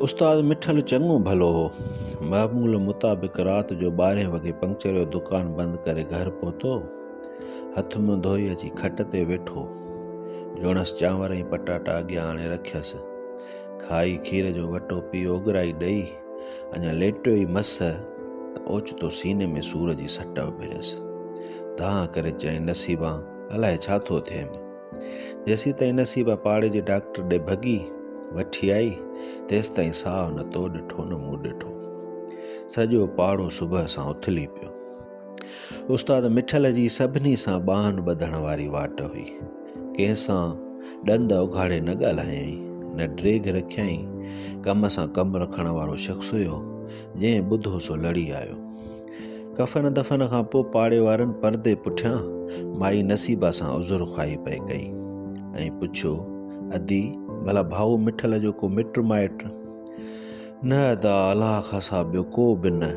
استاد مٺل چڱو ڀلو هو. معمول مطابق رات جو ٻارهين وڳي پنڪچر جو دڪان بند ڪري گهر پهتو. هٿ منهن ڌوئي اچي کٽ تي ويٺو. جوڻس چانور ۽ پٽاٽا اڳيان آڻي رکيس. کائي کير جو وٽو پي اوڳرائي ڏئي اڃا ليٽيو ئي مس ته اوچتو سيني ۾ سور جي سٽ اڀريس. دانهن ڪري چيائين نصيبان الائي ڇا ٿو ٿئين. جيسيتائين نصيبا پاڙي جي ڊاڪٽر ڏي ڀڳي وٺي آئي تيستائين ساهه نه تو ڏٺو نه مون ڏٺو سڄو پاڙو صبح سان اٿلي پيو استاد مٺل جي سڀني سان ٻانهن ٻڌڻ واري واٽ هئي ڪنهن سان ڏند اگهاڙي نه ڳالهايائين نه ڊريگ رکيائين ڪم سان ڪم رکڻ وارو شخص هيو جنهن ٻڌو سو لڙي آيو ڪفن دفن کان پوء پاڙي وارن پردي پٺيان مائي نصيبا سان عذر خواهي پئي ڪئي ۽ پڇيو ادي ڀلا ڀائو مٺل جو ڪو مٽ مائٽ نه ادا الاح خاصا ٻيو ڪو به نه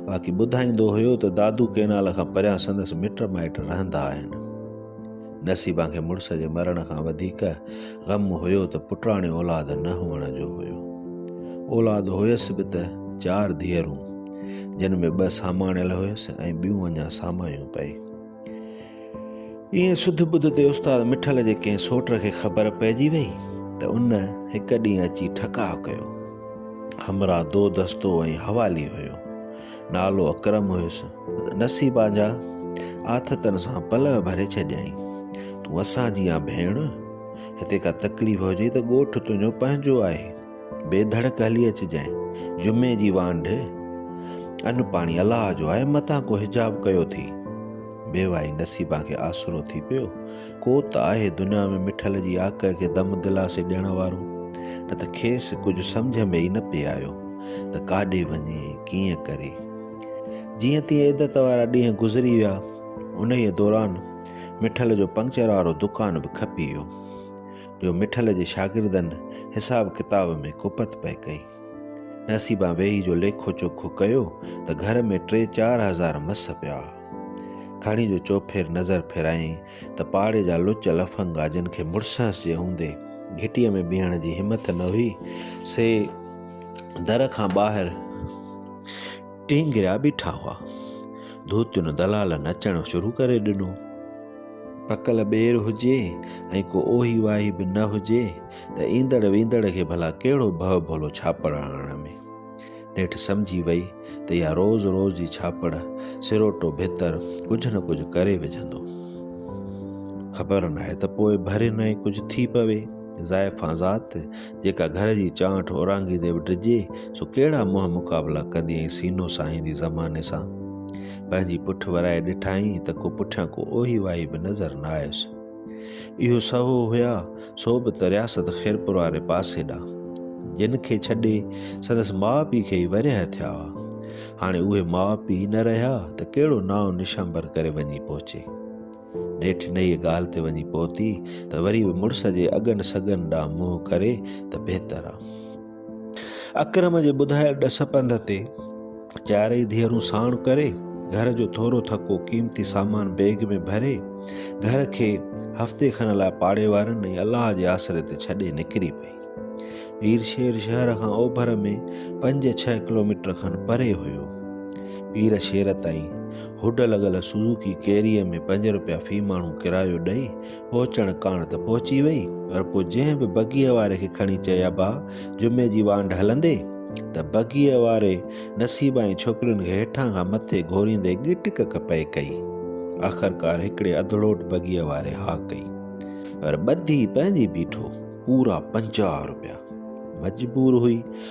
باقي ٻڌائيندو هيو ته دادو ڪينال کان پريان سندس مٽ مائٽ رهندا آهن نصيبا کي مڙس جي مرڻ کان وڌيڪ غم هيو ته پٽاڻي اولاد نه هئڻ جو هيو. اولاد هيس به ته چار ڌيئرون، جن ۾ ٻه ساماڻيل هيس ۽ ٻيون اڃا سامايون پئي. ائين سڌ ٻڌ تي استاد مٺل جي ڪنهن سوٽ کي خبر پئجي وئي ته ان هڪ ڏينهن اچي ٺڪاء ڪيو. همراهه دو دستو ۽ حوالي هيو. نالو اڪرم هيس. نصيب آنجا آٿتن سان پلئه ڀري ڇڏيائين. تون اسان جي آن ڀيڻ. هتي ڪا تڪليف هجي ته ڳوٺ تنهنجو پنهنجو آهي. بي ڌڙڪ هلي اچجانء. جمعي جي وانڍ. ان پاڻي الله جو آهي. متان ڪو حجاب ڪيو ٿي. بيواهي نصيبان کي آسرو ٿي پيو. ڪو ته آهي دنيا ۾ مٺل جي آڪهه کي دم دلاسي ڏيڻ وارو، نه ته کيس ڪجهه سمجهه ۾ ئي نه پئي آيو ته ڪاڏي وڃي ۽ ڪيئن ڪري. جيئن تيئن عدت وارا ڏينهن گذري ويا. انهيء دوران مٺل جو پنڪچر وارو دڪان به کپي ويو، جو مٺل جي شاگردن حساب ڪتاب ۾ ڪوپت پئي ڪئي. نصيبان ويهي جو ليکو چوکو ڪيو ته گهر ۾ ٽي چار هزار مس پيا ها. کڻي جو چوڦير نظر ڦيرايائين ته پاڙي جا لچ لفنگا جن کي مڙسهنس جي هوندي گهٽيء ۾ بيهڻ جي همٿ نه هئي سي در کان ٻاهر ٽينگريا بيٺا هئا. ڌوتين دلالن اچڻ شروع ڪري ڏنو. پڪل ٻير هجي ۽ ڪو اوهي واهي به نه هجي ته ايندڙ ويندڙ کي ڀلا ڪهڙو ڀؤ ڀولو ڇاپڙ هڻڻ ۾. نيٺ سمجهي وئي ته اها روز روز جي ڇاپڙ سروٽو ڀتر ڪجهه نه ڪجهه ڪري وجهندو. خبر ناهي ته پوء ڀري نئين ڪجهه ٿي پوي. زائفان ذات جيڪا گهر جي چانٺ اورانگهيندي به ڊڄي سو ڪهڙا منهن مقابلا ڪندي ۽ سينو ساهيندي زماني سان. پنهنجي پٺ ورائي ڏٺائين ته ڪو پٺيان ڪو اوهي واهي به نظر نه آيس. اهو سهو هيا سو به ته رياست خيرپور واري پاسي ڏانهن جن کي ڇڏي سندس ماء پيء کي ئي ورهيه ٿيا هئا. هاڻي اهي ماء پيء ئي نه رهيا ته ڪهڙو نانء نشانبر ڪري وڃي پهچي. نيٺ انهيء ڳالهه تي وڃي پهتي ته وري به مڙس جي اڳن سڳن ڏانهن منهن ڪري ته بهتر آ. اڪرم جي ٻڌايل ڏس پنڌ تي چارئي ڌيئرون ساڻ ڪري گهر جو ٿورو ٿڪو قيمتي سامان بيگ ۾ ڀري گهر کي هفتي کن لاء پاڙي وارن ۽ الله جي آسري تي ڇڏي نڪري پئي پير شير شهر کان اوڀر ۾ پنج ڇهه ڪلوميٽر کن پري هيو پير شير تائين هوڊ لڳل سوزوڪي ڪيريء ۾ پنج روپيا في ماڻهو ڪرايو ڏئي پهچڻ ڪاڻ ته پهچي وئي، پر پوء جنهن به بگيء واري کي کڻي چيابا جمعي جي وانڍ هلندي ته بگيء واري نصيبائين ڇوڪرين کي هيٺان کان مٿي گهوريندي ڳٽ ڪڪ پئي ڪئي. آخرڪار هڪڙي اڌڙوٽ بگيء واري ها ڪئي، پر ٻڌي پنهنجي بيٺو پورا پنجاهه روپيا. مجبور هئي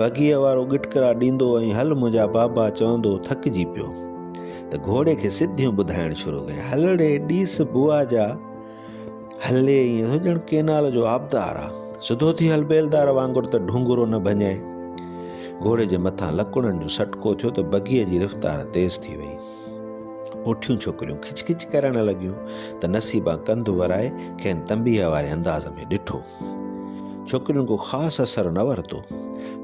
بگيء وارو ڳٽڪرا ڏيندو ۽ هل منهنجا بابا چوندو ٿڪجي پيو ته گهوڙي کي سڌيون ٻڌائڻ شروع ڪيائين هلڙي ڏيس بوا جا هلي ائين ٿو ڄڻ ڪينال جو آبدار آ سڌو ٿي هل بيلدار وانگر ته ڍونگرو نه ڀڃائي گهوڙي جي مٿان لڪڙن جو سٽڪو ٿيو ته بگيء جي رفتار تيز ٿي وئي پوٺيون ڇوڪريون کچ کچ ڪرڻ لڳيون ته نصيبان ڪنڌ ورائي کين تنبيه واري انداز ۾ ڏٺو ڇوڪرين ڪو خاص اثر نه ورتو.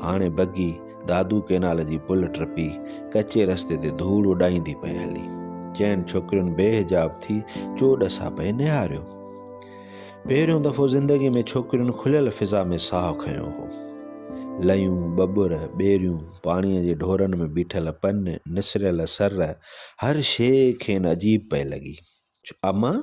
هاڻي بگي دادو ڪينال جي پل ٽپي ڪچي رستي تي ڌوڙ اڏائيندي پئي هلي. چئن ڇوڪرين بي حجاب ٿي چو ڏسا پئي نهاريو. پهريون دفعو زندگي ۾ ڇوڪرين کليل فضا ۾ ساهه کنيو هو. لئيون، ٻٻر، ٻيريون، پاڻيء جي ڍورن ۾ بيٺل پن، نسريل سر، هر شيء کين عجيب پئي لڳي. امان!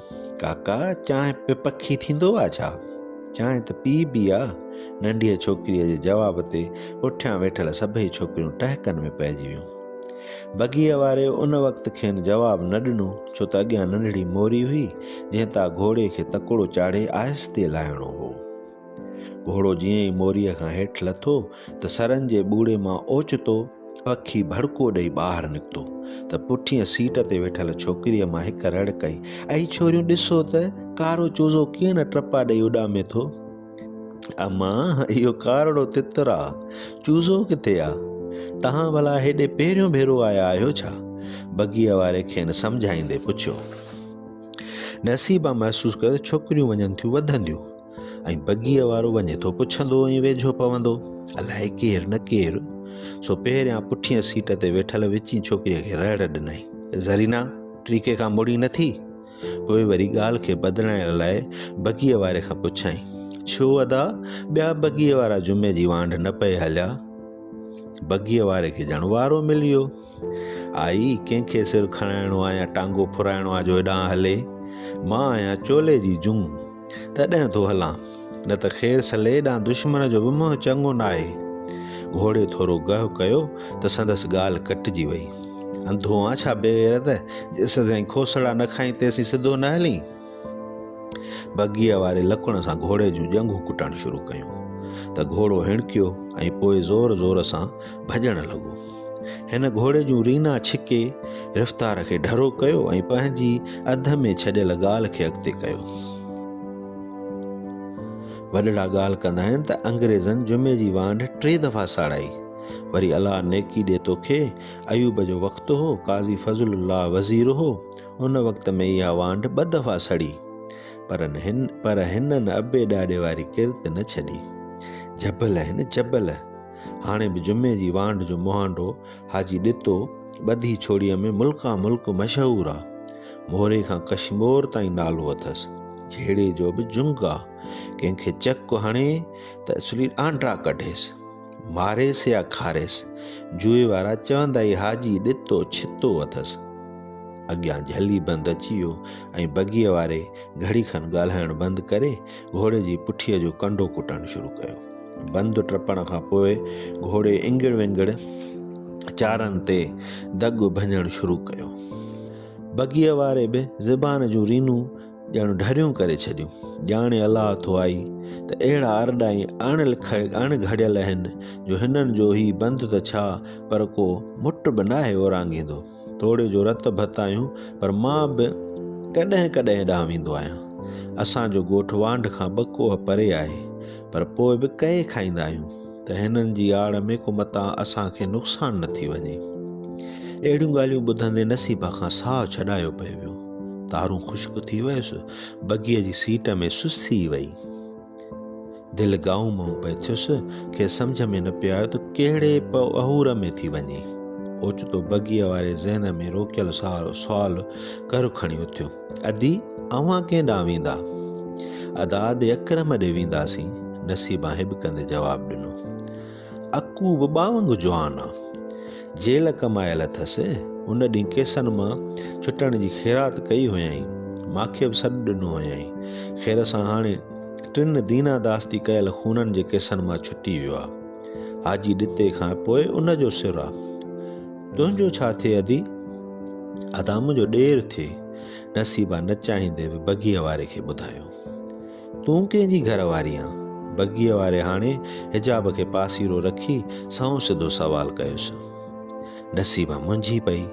ڪاڪا چانهه به پکي ٿيندو آ ڇا؟ چانهه ته پي بي آ. ننڍيء ڇوڪريء جي جواب تي پٺيان ويٺل سڀئي ڇوڪريون ٽهڪن ۾ پئجي ويون. بگيء واري ان وقت کين جواب نه ڏنو، ڇو ته اڳيان ننڍڙي موري هئي، جنهن تان گهوڙي کي تڪڙو چاڙهي آهستي لاهڻو هو. گهوڙو جيئن ئي موريء کان هيٺ لٿو ته سرن جي ٻوڙي مان اوچتو پکي ڀڙڪو ڏئي ٻاهر نڪتو ته پٺينء سيٽ تي ويٺل ڇوڪريء مان هڪ رڙ ڪئي، اي ڇوريون ڏسو ته ڪارو چوزو ڪيئن ٽپا ڏئي اڏامي ٿو. اما، اهو ڪارڙو تتر آ، چوزو ڪٿي آ؟ توهان ڀلا هيڏي پهريون ڀيرو آيا آهيو ڇا؟ بگيء واري کين سمجهائيندي پڇيو. نصيبا محسوس ڪيو ته ڇوڪريون وڃن ٿيون وڌنديون. ۽ بگيء وارو وڃي ٿو پڇندو ۽ ويجهو پوندو، الائي ڪير نه ڪير؟ سو پهريان پٺينء سيٽ تي ويٺل وچين ڇوڪريء کي رڙ ڏنائين، زرينا، ٽريڪي کان مڙين نه ٿي؟ پوء وري ڳالهه کي بدلائڻ لاء بگيء واري کان پڇيائين، ڇو ادا، ٻيا بگيء وارا جمعي جي وانڍ نه پئي هليا؟ بگيء واري کي ڄڻ وارو ملي ويو. آء ئي ڪنهن کي سر کڻائڻو آ يا ٽانگو ڦرائڻو آ جو هيڏانهن هلي. مان آهيان چولي جي جون، تڏهن ٿو هلان. نه ته خير صليح ڏانهن دشمن جو به منهن چڱو ناهي. گهوڙي ٿورو گهه ڪيو ته سندس ڳالهه ڪٽجي وئي. انڌو آن ڇا بيغيرت، جيسدائين کوسڙا نه کائين تيسين سڌو نه هلين. بگيء واري لڪڻ سان گهوڙي جون ڄنگهون ڪٽڻ شروع ڪيون ته گهوڙو هڻڪيو ۽ پوء زور زور سان ڀڄڻ لڳو. هن گهوڙي جون رينا ڇڪي رفتار کي ڍرو ڪيو ۽ پنهنجي اڌ ۾ ڇڏيل ڳالهه کي اڳتي ڪيو. وڏڙا ڳالهه ڪندا آهن ته انگريزن جمعي جي وانڍ ٽي دفعا ساڙائي. وري الله نيڪي ڏي توکي. ايوب جو وقت هو، قاضي فضل الله وزير هو. ان وقت ۾ اها وانڍ ٻه دفعا سڙي پر هن پر هنن ابي ڏاڏي واري ڪرت نه ڇڏي جبل هن جبل هاڻي به جمعي جي وانڍ جو مهانڊو حاجي ڏتو ٻڌي ڇوڙيء ۾ ملڪان ملڪ مشهور آ موري کان ڪشمور تائين نالو اٿس جهيڙي جو به جنگ آ ڪنهن کي چڪ هڻي ته اسلي آنڊا ڪڍيس ماريس يا کاريس، جوئي وارا چوندا ئي ها جي ڏتو ڇتو اٿس. اڳيان جهلي بند اچي ويو ۽ بگيء واري گهڙي کن ڳالهائڻ بند ڪري گهوڙي جي پٺيء جو ڪنڊو ڪٽڻ شروع ڪيو. بند ٽپڻ کان پوء گهوڙي انگڙ ونگڙ چارن تي دڳ ڀڃڻ شروع ڪيو. بگيء واري به زبان جون رينون ڄڻ ڍريون ڪري ڇڏيون. ڄاڻي الله ٿو آئي ته اهڙا ارڏا ۽ اڻ لکيل اڻ گهڙيل اهن جو هنن جو هي بند ته ڇا پر ڪو مٽ به ناهي اورانگهيندو. توڙي جو رت ڀت آهيون پر مان به ڪڏهن ڪڏهن ڏانهن ويندو آهيان. اسان جو ڳوٺ وانڍ کان ٻه ڪوهه پري آهي پر پوء به ڪهي کائيندا آهيون. ته هنن جي آڙ ۾ ڪو متان اسان کي نقصان نه ٿي وڃي. اهڙيون ڳالهيون ٻڌندي نصيبه کان ساهه ڇڏايو پئي ويو. تارون خشڪ ٿي ويس، بگيء جي سيٽ ۾ سسي وئي. دل گائون مئون پئي ٿيس، کيس سمجهه ۾ نه پيو آيو ته ڪهڙي پ اهور ۾ ٿي وڃي. اوچتو بگيء واري ذهن ۾ روڪيل سوال گهر کڻي اٿيو. ادي اوهان ڪنهن ڏانهن ويندا؟ اداد اڪرم ڏي وينداسين، نصيبان هٻڪندي جواب ڏنو. اڪو به ٻا وانگر جوان آ. جيل ڪمايل اٿس، ان ڏينهن ڪيسن مان ڇٽڻ جي خيرات ڪئي هيائين، ماکي به سڏ ڏنو هيائين. خير سان هاڻي ٽن دينا داستي ڪيل خونن جي ڪيسن مان ڇٽي ويو آ. حاجي ڏتي کان پوء ان جو سر آ. تنهنجو ڇا ٿئي ادي، ادا منهنجو ڏير ٿئي. نصيبا نه چاهيندي به بگيء واري کي ٻڌايو. تون ڪنهن جي گهر واري آن؟ بگيء واري هاڻي حجاب کي پاسيرو رکي سنئون سڌو سوال ڪيس. نصيبا منجهي پئي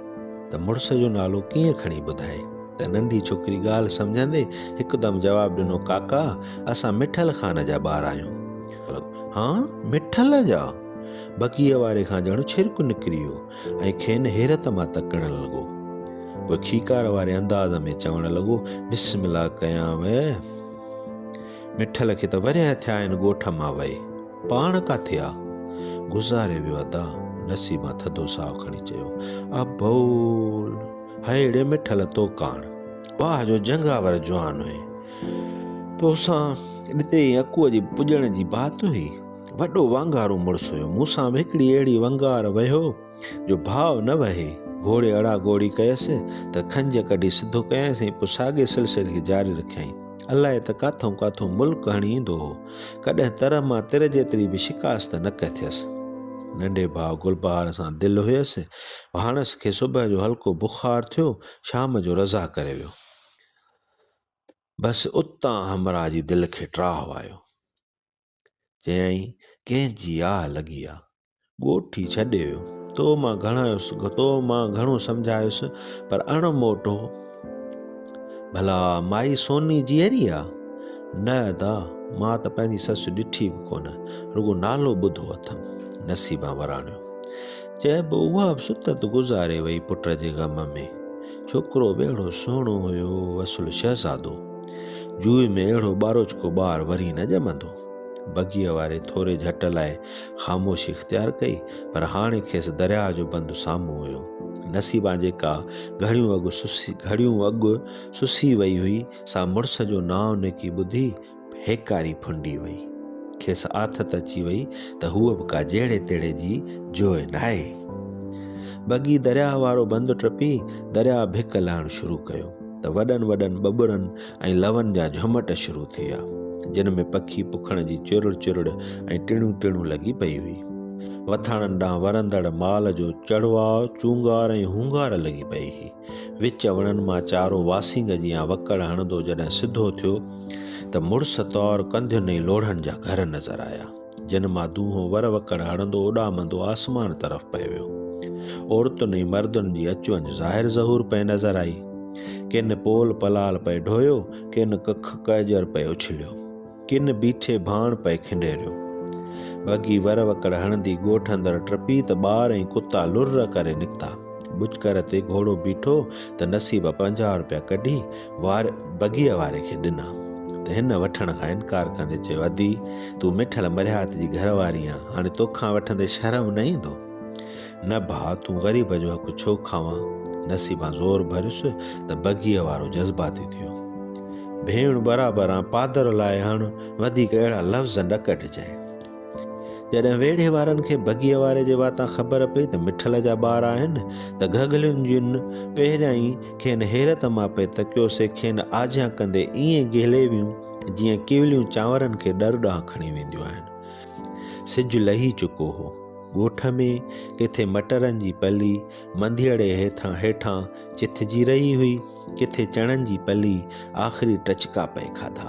ته مڙس جو نالو ڪيئن کڻي ٻڌائي ته ننڍي ڇوڪري ڳالهه سمجهندي هڪدم جواب ڏنو ڪاڪا اسان مٺل خان جا ٻار آهيون. هان مٺل جا؟ بڪيء واري کان ڄڻ ڇرڪ نڪري ويو ۽ کين حيرت مان تڪڻ لڳو. پوء کيڪار واري انداز ۾ چوڻ لڳو، بسم الله ڪيانء. مٺل کي ته ورهيه ٿيا آهن ڳوٺ مان وئي. پاڻ ڪاٿي آ؟ گذاري ويو ادا. نصيبان ٿڌو ساهه کڻي چيو. ابول! هيڙي مٺل تو ڪاڻ. واهه جو جنگاور جوان هئين. توسان ڏتي ۽ اڪوء جي پڄڻ جي بات هئي. وڏو وانگارو مڙس هيو. مون سان به هڪڙي اهڙي ونگار وهيو جو ڀاء نه وهي. گهوڙي اڙا گهوڙي ڪيس ته کنج ڪڍي سڌو ڪيائينس ۽ پوء ساڳئي سلسلي کي جاري رکيائين. الاء ته ڪاٿئون ڪاٿئون ملڪ هڻي ايندو هو. ڪڏهن تر مان تر جيتري به شڪاست نه ڪٿيس. ننڍي ڀاء گلبهار سان دل هيس. ڀاڻس کي صبح جو هلڪو بخار ٿيو، شام جو رضا ڪري ويو. بس اتان همراهه جي دل کي ٽراهه آيو. چيائين، ڪنهن جي آهه لڳي آ. ڳوٺ ئي ڇڏي ويو. تو مان گهڻايس، تو مان گهڻو سمجهايس، پر اڻ موٽو. ڀلا مائي سوني جيئري آ؟ نه ادا، مان ته پنهنجي سس ڏٺي به ڪونه، رڳو نالو ٻڌو اٿم. نصيبان وراڻيو. چئبو اها به ستت گذاري وئي پٽ جي غم ۾. ڇوڪرو به اهڙو سهڻو هيو، اصل شهزادو. جوئي ۾ اهڙو ٻاروچڪو ٻار وري نه ڄمندو. بگيء واري ٿوري جهٽ لاء خاموشي اختيار ڪئي، پر هاڻي کيس درياهه جو بند سامهون هيو. نصيبان جيڪا گهڙيون اڳ گهڙيون اڳ سسي وئي هئي، سا مڙس جو نانء نڪي ٻڌي هيڪاري ڦنڊي وئي. کيس آٿت اچي وئي ته هوء به ڪا جهڙي تهڙي جي جوئي ناهي. بگي درياهه وارو بند ٽپي، درياهه ڀڪ لهڻ شروع ڪيو. ته وڏن وڏن ٻٻرن ۽ لون جا جهمٽ شروع ٿيا، جن ۾ پکي پکڻ جي چرڙ چرڙ ۽ ٽڻيون ٽڻيون لڳي پئي هئي. وٿاڻن ڏانهن ورندڙ مال جو چڙواء، چونگار ۽ هونگار لڳي پئي هئي. وچ وڻن مان چارو واسينگ جيان وڪڙ هڻندو جڏهن سڌو ٿيو ته مڙس طور ڪنڌين ۽ لوڙهن جا گهر نظر آيا. جنھن مان دونھون ور وڪڙ ھڻندو اڏامندو آسمان طرف پئي ويو. عورتن ۽ مردن جي اچ وڃ ظاھر ظھور پئي نظر آئي. ڪن پول پلال پئي ڍويو، ڪن ڪک ڪئجر پئي اڇليو، ڪن بيٺي ڀاڻ پئي کنڊيريو. وڳي ور وڪڙ ھڻندي ڳوٺ اندر ٽپي ته ٻار ۽ ڪتا لرڙ ڪري نڪتا. ٻچڪر تي گھوڙو بيٺو ته نصيب پنجاھ روپيا ڪڍي وار بگيء واري کي ڏنا ته هن وٺڻ کان انڪار ڪندي چيو ادي تون مٺل مرهيات جي گهر واري آن هاڻي توکان وٺندي شرم نه ايندو نه ڀا تون غريب جو حق ڇو کاوان نصيبان زور ڀريس ته بگيء وارو جذباتي ٿيو ڀيڻ برابر آن پادر لاء هاڻ وڌيڪ اهڙا لفظ نه ڪڍجانء جڏهن ويڙهي وارن کي بگيء واري جي واتان خبر پئي ته مٺل جا ٻار آهن ته گهگهلين جن پهريائين کين حيرت مان پئي تڪيو سي کين آجيان ڪندي ائين گهلي ويون جيئن ڪيوليون چانورن کي ڏر ڏانهن کڻي وينديون آهن. سج لهي چڪو هو. ڳوٺ ۾ ڪٿي مٽرن جي پلي منڌيئڙي هيٿان هيٺان چٿجي رهي هئي، ڪٿي چڻن جي پلي آخري ٽچڪا پئي کاڌا.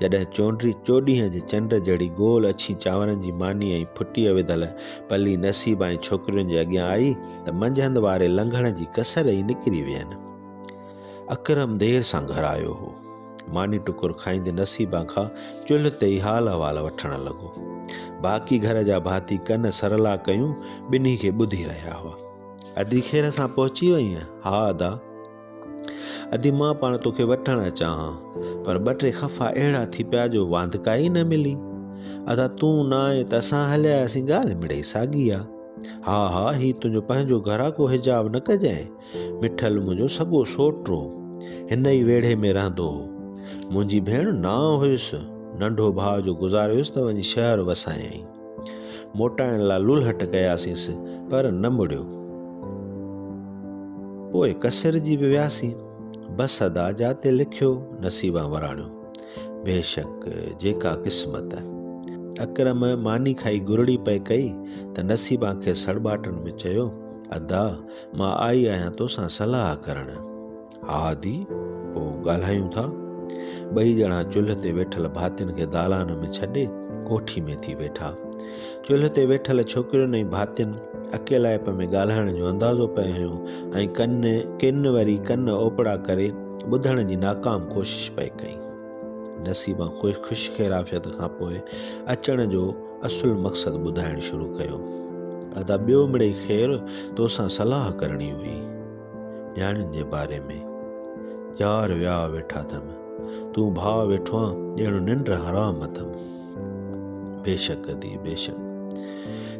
جڏهن چونڊري چوڏهينء جي چنڊ جهڙي گول اڇين چانورن جي مانيء ۽ ڦٽيء وڌل پلي نصيب ۽ ڇوڪرين جي اڳيان آئي ته منجهند واري لنگهڻ جي ڪسر ئي نڪري وين. اڪرم دير سان گهر آيو هو. ماني ٽڪر کائيندي نصيبان کان چلهه تي ئي حال احوال وٺڻ لڳو. باقي گهر جا ڀاتي ڪن سرلا ڪيون ٻنهي کي ٻڌي رهيا هئا. ادي خير سان پهچي وئين؟ ها ادا. ادي مان پاڻ توکي وٺڻ اچان ها، پر ٻه ٽي خفا اهڙا ٿي پيا جو واندڪائي ئي نه ملي. ادا تون نه آئين ته اسان هلي آياسين ڳالهه مڙئي ساڳي آ. ها ها هي تنهنجو پنهنجو گهر آ ڪو حجاب نه ڪجانء. مٺل منهنجو سڳو سوٽ هو. هن ئي ويڙهي ۾ رهندو هو. منهنجي ڀيڻ نانء هيس. ننڍو ڀاء جو گذاريوس ته وڃي شهر وسايائين. موٽائڻ لاء لولهٽ ڪياسينس پر نه مڙيو. پوء ڪسرجي به وياسين. بس ادا جاتي لکيو نصيبان وراڻيو. بيشڪ جيڪا قسمت. اڪرم ماني کائي گرڙي پئي ڪئي ته نصيبان کي سڙٻاٽن ۾ چيو، ادا مان آئي آهيان توسان صلاح ڪرڻ. ها دي، پوء ڳالهايون ٿا. ٻئي ڄڻا چلهه تي ويٺل ڀاتين کي دالان ۾ ڇڏي ڪوٺي ۾ ٿي ويٺا. چلهه تي ويٺل ڇوڪرين ۽ ڀاتين اڪيلائپ ۾ ڳالهائڻ جو اندازو پئي هنيو ۽ ڪن ڪن وري ڪن اوپڙا ڪري ٻڌڻ جي ناڪام ڪوشش پئي ڪئي. نصيبان خوش خيرعافيت کان پوء اچڻ جو اصل مقصد ٻڌائڻ شروع ڪيو. ادا ٻيو مڙئي خير، توسان صلاح ڪرڻي هئي. نياڻين جي باري ۾، چار ويا ويٺا ٿم، تون ڀاء ويٺو آن، ڄڻ ننڊ حرام اٿم. بيشڪ ادي، بيشڪ.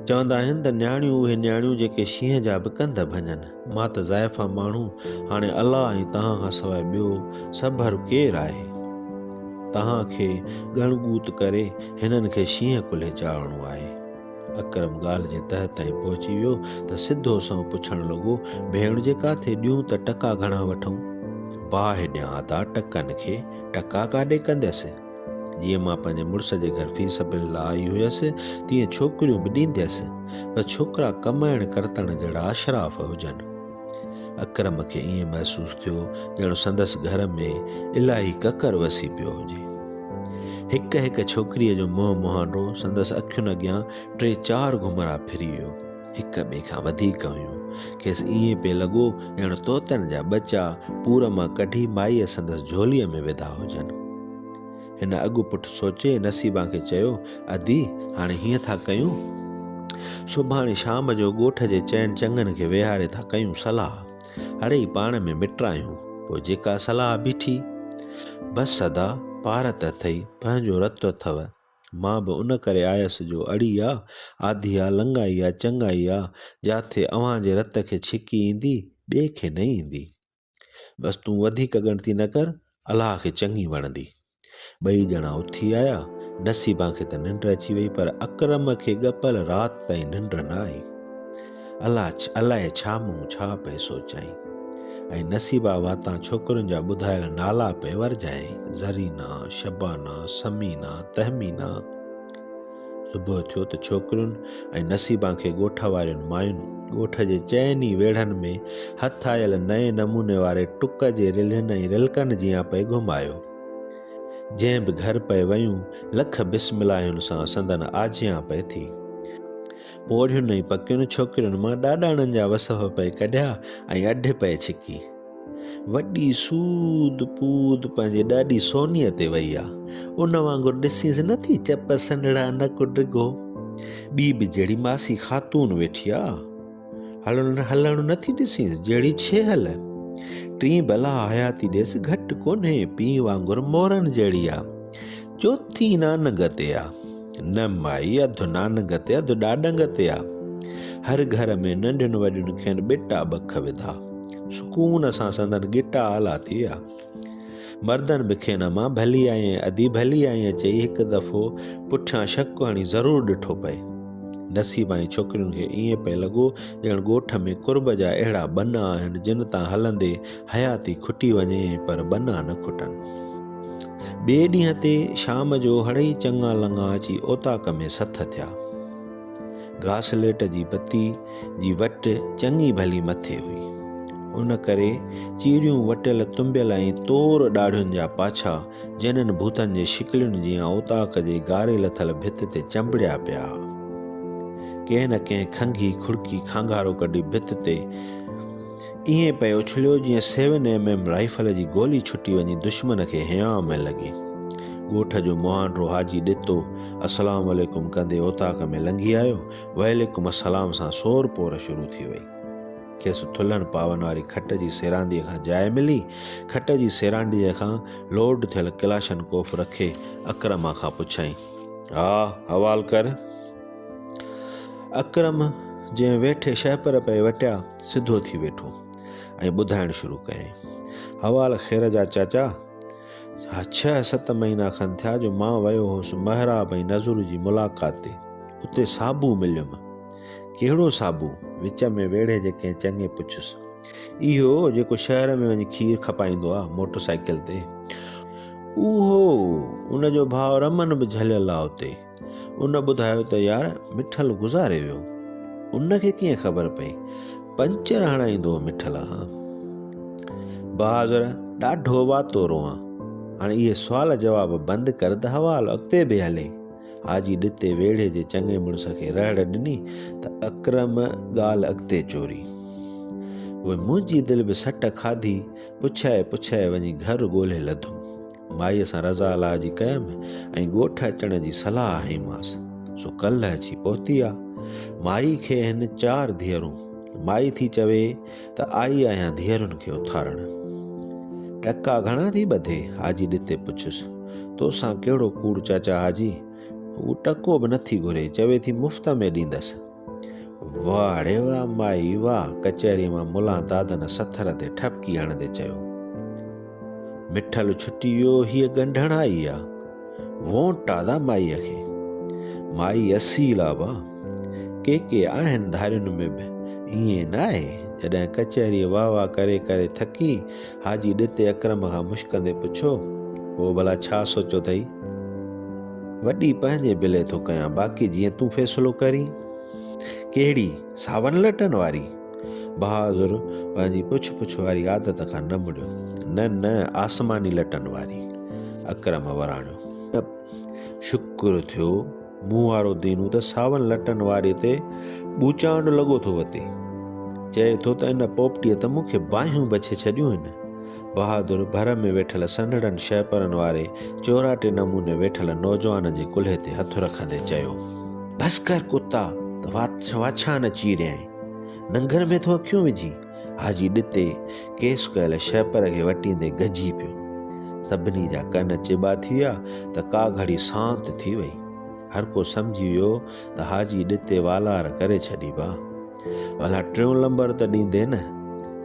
چوندا آهن ته نياڻيون اهي نياڻيون جيڪي شينهن جا به ڪنڌ ڀڃن. مان ته زائفا ماڻهو، هاڻي الله ۽ توهان کان سواء ٻيو سڀر ڪير آهي؟ توهان کي ڳڻ ڳوت ڪري هنن کي شينهن ڪلهي چاڙهڻو آهي. اڪرم ڳالهه جي تهه تائين پهچي ويو ته سڌو سنئون پڇڻ لڳو، ڀيڻ جي ڪاٿي ڏيون ته ٽڪا گهڻا وٺون؟ باهه ڏيان ادا ٽڪن کي، ٽڪا ڪاڏي ڪنديس؟ جيئن مان پنهنجي مڙس جي گهر في سبيل الله آئي هيس، تيئن ڇوڪريون به ڏينديس. بس ڇوڪرا ڪمائڻ ڪرتڻ جهڙا اشراف هجن. اڪرم کي ائين محسوس ٿيو ڄڻ سندس گهر ۾ الاهي ڪڪر وسي پيو هجي. هڪ هڪ ڇوڪريء جو منهن مهانڊو سندس اکين اڳيان ٽي چار گهمرا ڦري ويو. هڪ ٻئي کان وڌيڪ هيون. کيس ائين پئي لڳو ڄڻ طوطن جا ٻچا پور مان ڪڍي مائيء سندس جهوليء ۾ وڌا هجن. هن اڳ پٺ سوچي نصيبان کي چيو، ادي، هاڻي هيئن ٿا ڪيون. سڀاڻي شام جو ڳوٺ جي چئن چڱن کي ويهاري ٿا ڪيون صلاح. اڙي پاڻ ۾ مٽرايون، پوء جيڪا صلاح بيٺي. بس ادا، پار ته اٿئي، پنهنجو رت اٿئو. مان به ان ڪري آيس جو اڙي آ، آڌي آ، لڱائي آ، چڱائي آ، جا ٿي اوهان جي رت کي ڇڪي ايندي، ٻئي کي نه ايندي. بس تون وڌيڪ ڳڻتي نه ڪر، الله کي چڱي وڻندي. ٻئي ڄڻا اٿي آيا، نصيبان کي ته ننڊ اچي وئي پر اڪرم کي ڳپل رات تائين ننڊ نه آئي. الله الائي ڇا مون ڇا پئي سوچيائين ۽ نصيبا واتان ڇوڪرين جا ٻڌايل نالا پئي ورجايائين، زرينا، شبانا، ثمينا، تهمينا. صبح ٿيو ته ڇوڪرين ۽ نصيبان کي ڳوٺ وارين مايون ڳوٺ جي چئن ئي ويڙهن ۾ هٿ آيل نئين نموني واري ٽڪ جي رلهين ۽ رلڪن جيان پئي گهمايو. جنهن به گهر پئي ويون لک بسم اللهين سان سندن آجيان پئي ٿي. پوڙهين ۽ پڪين ڇوڪرين مان ڏاڏاڻن جا وصف پئي ڪڍيا ۽ اڍ پئي ڇڪي. وڏي سود پود پنهنجي ڏاڏي سونيء تي وئي آ. ان وانگر ڏسينس نه ٿي چپ سنڙا نڪ ڊگهو. ٻي به جهڙي ماسي خاتون ويٺي آ. هلڻ هلڻ نه ٿي ڏسينس جهڙي ڇيهل. ٽين بلا حياتي ڏيس گهٽ ڪونهي پيء وانگر مورن جهڙي آ. جو ٿي نان گتي آ نه مائي اڌ نان گتي اڌ ڏاڏن گتي آ هر گهر ۾ ننڍين وڏين کين ٻٽا ٻک وڌا سڪون سان سندن ڳٽا آلا ٿي آ مردن به کين امان ڀلي آئين ادي ڀلي آئين چئي هڪ دفعو پٺيان شڪ هڻي ضرور ڏٺو پئي نصيب ۽ ڇوڪرين کي ائين پئي لڳو ڄڻ ڳوٺ ۾ قرب جا اهڙا ٻنا آهن جن تان هلندي حياتي کٽي وڃي پر ٻنا نه کٽن. ٻئي ڏينهن تي شام جو هڙئي چڱا لڱا اچي اوطاق ۾ سٿ ٿيا. گاسليٽ جي بتي جي وٽ چڱي ڀلي مٿي هئي. ان ڪري چيريون وٽيل تنبيل ۽ تور ڏاڙهين جا پاڇا جنن ڀوتن جي شڪلين جيان اوطاق جي گاري لٿل ڀت تي چنبڙيا پيا ها. ڪنهن نه ڪنهن کنگهي کڙڪي کانگارو ڪڍي ڀت تي ائين پئي اڇليو جيئن سيون ايم ايم رائفل جي گولي ڇٽي وڃي دشمن کي هيانء ۾ لڳي. ڳوٺ جو مهانڊرو حاجي ڏتو السلام عليڪم ڪندي اوطاق ۾ لنگهي آيو، وعليڪم السلام سان سور پور شروع ٿي وئي. کيس ٿلهن پاون واري کٽ جي سيرانديء کان جاء ملي، کٽ جي سيرانڊيء کان لوڊ ٿيل ڪلاشن ڪوف رکي اڪرم کان پڇيائين. ها حوال ڪر. اڪرم جنهن ويٺي شهپر پئي وٽيا، سڌو ٿي ويٺو ۽ ٻڌائڻ شروع ڪيائين، حوال خير جا چاچا! ڇهه ست مهينا کن ٿيا جو مان ويو هوس محراب ۽ نذر جي ملاقات تي. اتي صابو مليم. ڪهڙو صابو؟ وچ ۾ ويڙهي جي ڪنهن چڱي پڇيس. اهو جيڪو شهر ۾ وڃي کير کپائيندو آ موٽر سائيڪل تي. اهو! ان جو ڀاء رمن به جهليل آ اتي. ان ٻڌايو ته يار مٺل گذاري ويو. ان کي ڪيئن خبر پئي؟ پنچر هڻائيندو هو مٺل کان. بهادر ڏاڍو واتو روئان. هاڻي اهي سوال جواب بند ڪر ته حوال اڳتي به هلي. حاجي ڏتي ويڙهي جي چڱي مڙس کي رهڙ ڏني ته اڪرم ڳالهه اڳتي چوري. اهي منهنجي دل به سٽ کاڌي پڇائي پڇائي وڃي گهر ڳولهي لڌم. مائيء سان رضا الاهه جي ڪيم ۽ ڳوٺ اچڻ جي صلاح هنئيمانس، سو ڪلهه اچي پهتي آ. مائي کي هن چار ڌيئرون. مائي ٿي چوي ته آئي آهيان ڌيئرن کي اٿارڻ. ٽڪا گهڻا ٿي ٻڌي؟ حاجي ڏتي پڇيس، تو سان ڪهڙو ڪوڙ چاچا حاجي؟ هوء ٽڪو به نٿي گهري، چوي ٿي مفت ۾ ڏيندس. واهه ڙي واهه مائي واهه! ڪچهريء مان ملان دادن سٿر تي ٺپڪي هڻندي چيو. مٺل ڇٽي ويو، هيء ڳنڍڻ آئي آ. وونٽ ٽادا مائيء کي. مائي اصيل آ وا. ڪي ڪي آهن ڌارين ۾ به ائين نه آهي. جڏهن ڪچهريء واهه واهه ڪري ڪري ٿڪي حاجي ڏتي اڪرم کان مشڪندي پڇيو، پوء ڀلا ڇا سوچيو اٿئي؟ وڏي پنهنجي بلي ٿو ڪيان، باقي جيئن تون فيصلو ڪرين. ڪهڙي؟ ساون لٽن واري؟ بهادر پنهنجي پڇ پڇ واري عادت کان نه مڙيو، نه نه آسماني لٽن واري. اڪرم وراڻيو. شڪر ٿيو. مون وارو دينو ته ساون لٽن واري تي ٻوچانڊ لڳو ٿو وتي چئي ٿو ته ان پوپٽيء ته مون کي باهيون بڇي ڇڏيون هن بهادر ڀر ۾ ويٺل سنهڙن شهپرن واري چوراٽي نموني ويٺل نوجوان جي ڪلهي تي هٿ رکندي چيو بس ڪر ڪتا ته واڇان نه چيريائين ننگر ۾ ٿو اکيون وجهي حاجي ڏتي ڪيس ڪيل شهپر کي وٽيندي گجي پيو. سڀني جا ڪن چٻا ٿي ويا ته ڪا گهڙي سانت ٿي وئي. هر ڪو سمجهي ويو ته حاجي ڏتي والار ڪري ڇڏي با. ڀلا ٽيون لمبر ته ڏيندي نه؟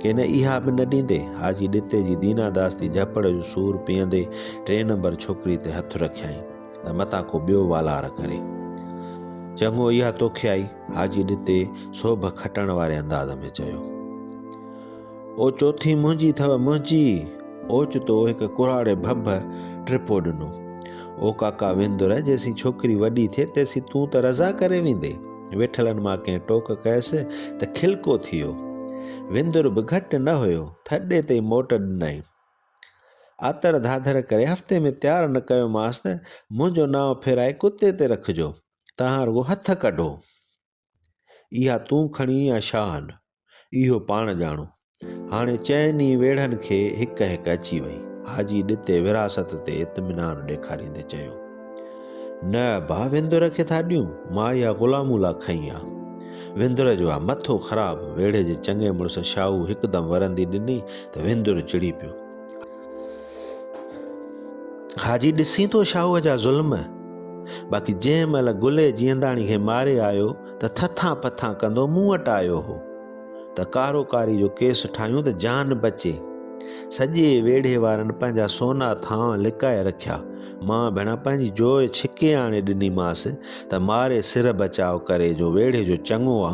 ڪي نه اها به نه ڏيندي؟ حاجي ڏتي جي دينا داستي جهپڙ جو سور پيئندي ٽين نمبر ڇوڪري تي هٿ رکيائين ته متان ڪو ٻيو والار ڪري. چڱو اها توکي آئي. حاجي ڏتي سوڀ کٽڻ واري انداز ۾ چيو. او چوٿين منهنجي اٿئو منهنجي! اوچتو هڪ ڪرهاڙي ڀڀ ٽپو ڏنو. او ڪاڪا وندر جيسين ڇوڪري وڏي ٿئي تيسين تون ته رضا ڪري ويندي. ويٺلن مان ڪنهن ٽوڪ ڪيس ته کلڪو ٿي ويو. وندر به گهٽ نه هيو، ٿڏي تي موٽ ڏنائين. آتر ڌاڌر ڪري هفتي ۾ تيار نه ڪيومانس ته منهنجو نانء ڦيرائي ڪتي تي رکجو. تهان رڳو هٿ ڪڍو، اها تون کڻي يا شان، اهو پاڻ ڄاڻو. هاڻي چئن ئي ويڙهن کي هڪ هڪ اچي وئي. حاجي ڏتي ورهاست تي اطمينان ڏيکاريندي چيو، نه ابا، وندر کي ٿا ڏيون، مان اها غلامون لا کنئي آ. وندر جو آ مٿو خراب. ويڙهي جي چڱي مڙس شاهو هڪدم ورندي ڏني ته وندر چڙي پيو. حاجي ڏسين ٿو شاهوء جا ظلم باقي جنهن مهل گلي جيئنداڻي کي ماري آيو ته ٿٿان پٿان ڪندو مون وٽ آيو هو ته ڪارو ڪاري جو ڪيس ٺاهيون ته جان بچي سڄي ويڙهي وارن پنهنجا سونا ٿانء لڪائي رکيا مان ڀيڻا پنهنجي جوء ڇڪي آڻي ڏنيمانس ته ماري سر بچاء ڪري جو ويڙهي جو چڱو آ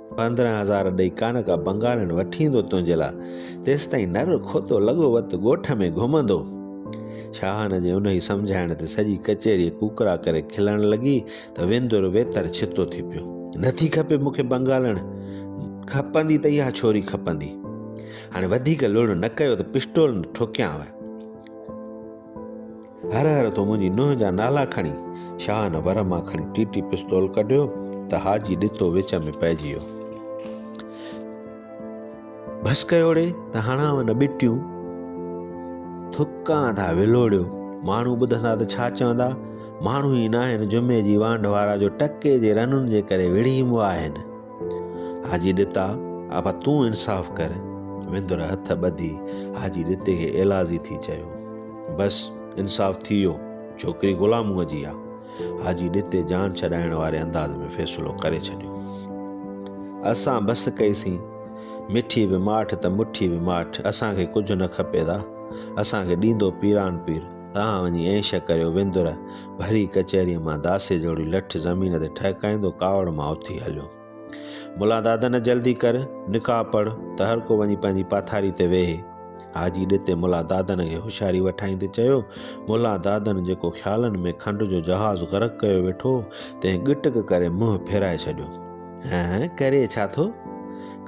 پندرهن هزار ڏئي ڪانڪا بنگالين وٺي ايندو تنهنجي لاء، تيستائين نر کوتو لڳو وت ڳوٺ ۾ گهمندو. شاهان جي انهيء سمجهائڻ تي سڄي ڪچهري ڪوڪڙا ڪري کلڻ لڳي ته ويندر ويتر ڇتو ٿي پيو. نٿي کپي مون کي بنگالڻ، کپندي ته اها ڇوري کپندي. هاڻي وڌيڪ لڙ نه ڪيو ته پسٽول ٺوڪيانء. هر هر تو منهنجي نونهن جا نالا کڻي شاهه نه ور مان کڻي ٽي ٽي پستول ڪڍيو ته حاجي ڏتو وچ ۾ پئجي ويو بس ڪيوڙي ته هڻاو نه ٻٽيون ٿڪان ٿا ولوڙيو ماڻهو ٻڌندا ته ڇا چوندا ماڻهو ئي ناهن جمعي جي وانڍ وارا جو ٽڪي جي رنن جي ڪري وڙهي ايمبو آهن حاجي ڏتا، ابا تون انصاف ڪر. وندر هٿ ٻڌي حاجي ڏتي کي ايلاذي ٿي چيو. بس انصاف ٿي ويو، ڇوڪري غلاموء جي آ. حاجي ڏتي جان ڇڏائڻ واري انداز ۾ فيصلو ڪري ڇڏيو. اسان بس ڪئي سين. مٺي به ماٺ ته مٺي به ماٺ، اسان کي ڪجهه نه کپي دا. اسان کي ڏيندو پيران پير. تان وڃي عيش ڪريو وندر ڀري ڪچهريء مان داسي جوڙي لٺ زمين تي ٺهڪائيندو ڪاوڙ مان اٿي هليو. ملا دادن جلدي ڪر، نڪاح پڙهه ته هر ڪو وڃي پنهنجي پاٿاري تي ويهي. حاجي ڏتي ملا دادن کي هوشياري وٺائيندي چيو، ملا دادن جيڪو خيالن ۾ کنڊ جو جهاز غرق ڪيو ويٺو تنهن ڳٽڪ ڪري منهن ڦيرائي ڇڏيو. هه هه ڪري ڇا ٿو؟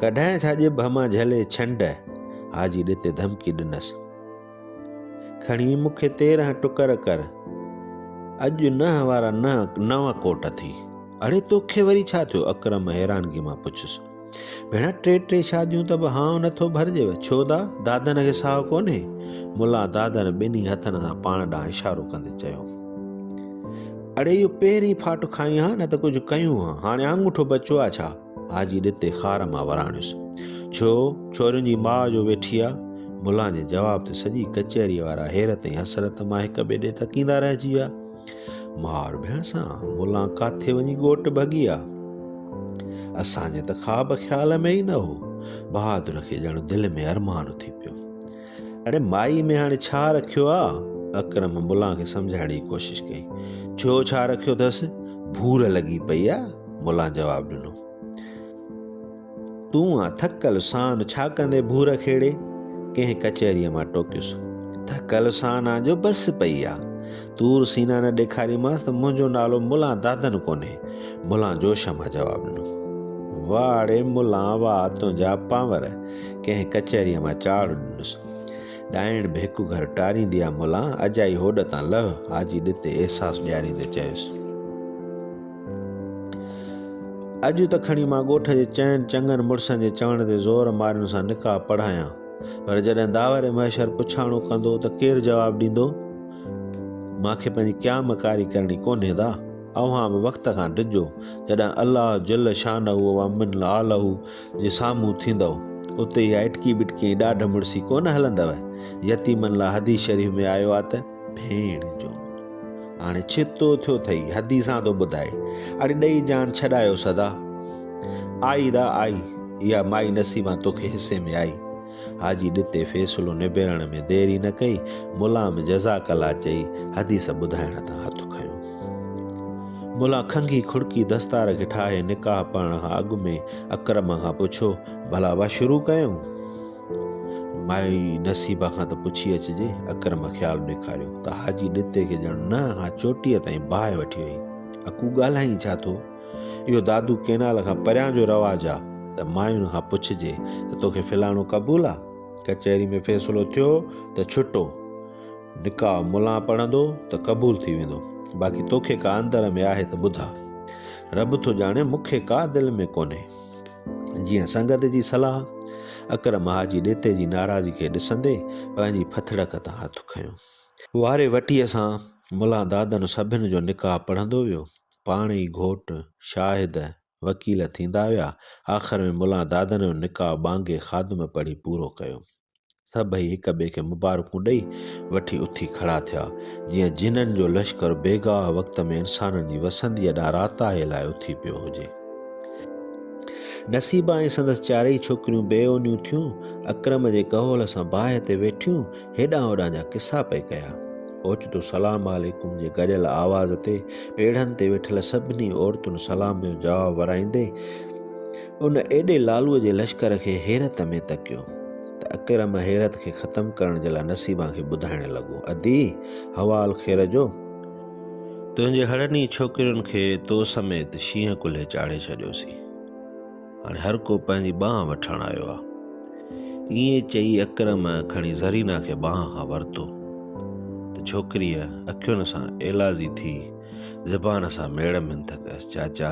ڪڍانء ڇا ڄڀ مان جهلي ڇنڊ؟ حاجي ڏتي ڌمڪي ڏنس. کڻي مون کي تيرهن ٽڪر ڪر. اڄ نهه وارا نهه نو ڪوٽ ٿي. اڙي توکي وري ڇا ٿيو؟ اڪرم حيرانگي مان پڇيس. ڀيڻ ٽي ٽي شاديون ته به هانء نٿو ڀرجيو. ڇو دا؟ دادن کي ساهه ڪونهي؟ ملا دادن ٻنهي هٿن سان پاڻ ڏانهن اشارو ڪندي چيو. اڙي اهو پهرين ڦاٽ کائين ها نه ته ڪجهه ڪيون ها. هاڻي آڱوٺو بچيو آ ڇا؟ حاجي ڏتي خار مان وراڻيس، ڇو ڇورين جي ماء جو ويٺي آ؟ ملان جي جواب تي سڄي ڪچهري وارا حيرت ۽ حسرت مان هڪ ٻئي ڏي تڪيندا رهجي ويا. ماء اور ڀيڻ سان ملان ڪاٿي وڃي ڳوٽ ڀڳي آ؟ اسان جي ته خواب خيال ۾ ئي نه هو. بهادر کي ڄڻ دل ۾ ارمان اٿي پيو. اڙي مائي ۾ هاڻي ڇا رکيو آ؟ اڪرم ملان کي سمجهائڻ جي ڪوشش ڪئي. ڇو ڇا رکيو اٿس؟ ڀور لڳي پئي آ، ملان جواب ڏنو. تون آ ٿڪل سان ڇا ڪندي ڀور کيڙي؟ ڪنهن ڪچهريء مان ٽوڪيس. ٿڪل سان آ جو بس پئي آ. طور سينا نه ڏيکاريمانس ته منهنجو نالو ملان دادن ڪونهي. ملان جوش مان جواب ڏنو. واهه اڙي ملان واهه تنهنجا پانور. ڪنهن ڪچهريء مان چاڙهه ڏنس. ڏائڻ به هڪ گهر ٽاريندي آ ملان، اجائي هوڏ تان لهه، حاجي ڏتي احساس ڏياريندي چيس. اڄ ته کڻي مان ڳوٺ جي چئن چڱن مڙسن جي چوڻ تي زور مارين سان نڪاح پڙهايان. پر جڏهن داور محشر پڇاڻو ڪندو ته ڪير جواب ڏيندو؟ مان کي پنهنجي ڪيا مڪاري ڪرڻي ڪونهي دا. اوهان به وقت کان ڊڄو جڏهن الله جل شانه و من عاله جي سامهون ٿيندؤ. اتي اها اٽڪي بٽڪي ۽ ڏاڍ مڙسي ڪونه هلندؤ. يتيمن لاء حديث شريف ۾ آيو آ ته. ڀيڻ جو هاڻي ڇتو ٿيو ٿئي حدي سان ٿو ٻڌائي اڙي ڏئي جان ڇڏايو سدا آئي را آئي اها مائي نصيبان توکي حصي ۾ آئي حاجي ڏتي فيصلو نبيرڻ ۾ دير ئي نه ڪئي ملا ۾ جزاڪ الله چئي حديث ٻڌائڻ تان هٿ کنيو ملا کنگي کڙڪي دستار کي ٺاهي نڪاح پڙهڻ کان اڳ ۾ اڪرم کان پڇيو ڀلا وا شروع ڪيون مائي نصيبه کان ته پڇي اچجي، اڪرم خيال ڏيکاريو ته حاجي ڏتي کي ڄڻ نه اها چوٽيء تائين باهه وٺي وئي. اڪو ڳالهائين ڇا ٿو؟ اهو دادو ڪئنال کان پريان جو رواج آ ته ماين کان پڇجي ته توکي فلاڻو قبول آ؟ ڪچهري ۾ فيصلو ٿيو ته ڇٽو نڪاح ملان پڙهندو ته قبول ٿي ويندو. باقي توکي ڪا اندر ۾ آهي ته ٻڌاء. رب ٿو ڄاڻي مون کي ڪا دل ۾ ڪونهي. جيئن سنگت جي صلاح، اڪرم حاجي ڏيتي جي ناراضي کي ڏسندي پنهنجي پھٿڙڪ تان ھٿ کنيو. واري وٽيء سان ملان دادن سڀن جو نڪاح پڙھندو ويو. پاڻ ئي گھوٽ، شاھد، وڪيل ٿيندا ويا. آخر ۾ ملان دادن جو نڪاح ٻانگي خادم پڙھي پورو ڪيو. سڀئي هڪ ٻئي کي مبارڪون ڏئي وٺي اٿي کڙا ٿيا، جيئن جنن جو لشڪر بيگاهه وقت ۾ انسانن جي وسنديء ڏانهن راتاهي لاء اٿي پيو هجي. نصيبه ۽ سندس چارئي ڇوڪريون بي اونيون ٿيون، اڪرم جي ڪهول سان باهه تي ويٺيون هيڏانهن هوڏانهن جا قصا پئي ڪيا. اوچتو سلام عليڪم جي گڏيل آواز تي پيڙهن تي ويٺل سڀني عورتن سلام جو جواب ورائيندي، ان ايڏي لالوء جي لشڪر کي حيرت ۾ تڪيو ته اڪرم حيرت کي ختم ڪرڻ جي لاء نصيبان کي ٻڌائڻ لڳو، ادي! حوال خير جو؟ تنهنجي هڙني ڇوڪرين کي تو سميت شينهن ڪلهي چاڙهي ڇڏيوسين. هاڻي هر ڪو پنهنجي ٻانهن وٺڻ آيو آ. ائين چئي اڪرم کڻي زرينا کي ٻانهن کان ورتو ته ڇوڪريء اکين سان ايلازي ٿي زبان سان ميڙ منٿ ڪيس، چاچا!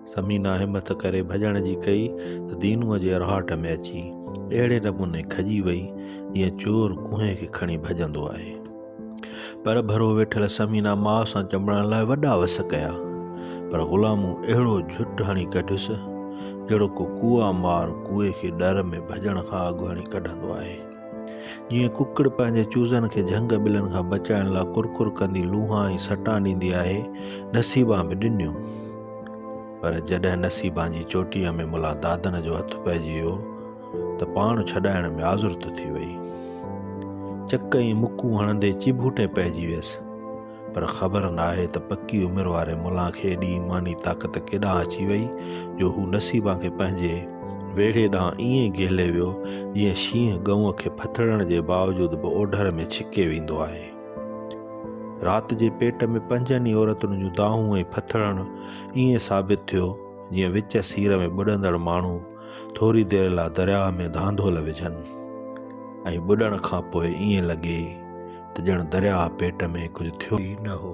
ثمينه همٿ ڪري ڀڄڻ جي ڪئي ته دينوء جي اراهٽ ۾ اچي اهڙي نموني کڄي وئي جيئن چور ڪوهين کي کڻي ڀڄندو آهي. پر ڀرو ويٺل ثمينه ماء سان چنبڙڻ لاء وڏا وس ڪيا پر غلامون اهڙو جهٽ هڻي ڪڍيس جهڙو ڪو ڪوئا مار ڪوئي کي ڏر ۾ ڀڄڻ کان اڳ هڻي ڪڍندو آهي. جيئن ڪڪڙ پنهنجي چوزن کي جهنگ ٻلن کان بچائڻ لاء ڪرڪر ڪندي لونهان ۽ سٽان ڏيندي آهي، نصيبان به ڏنيون. پر جڏهن نصيبان جي چوٽيء ۾ ملان دادن جو هٿ پئجي ويو ته پاڻ ڇڏائڻ ۾ آزرت ٿي وئي. چڪ ۽ مڪون هڻندي چيڀوٽي پئجي ويس. پر خبر ناهي ته پڪي عمر واري ملان کي ايڏي ايماني طاقت ڪيڏانهن اچي وئي جو هو نصيبان کي پنهنجي ويڙهي ڏانهن ائين گهلي ويو جيئن شينهن ڳئون کي ڦٿڙڻ جي باوجود به اوڍر ۾ ڇڪي ويندو آهي. رات جي پيٽ ۾ پنجن ئي عورتن جون دانهون ۽ ڦٿڙڻ ائين ثابت ٿيو جيئن وچ سير ۾ ٻڏندڙ ماڻهو ٿوري دير لا درياهه ۾ ڌانڌول وجهن ۽ ٻڏڻ کان پوء ائين لڳي ته ڄڻ درياهه پيٽ ۾ ڪجهه ٿيو ئي نه هو.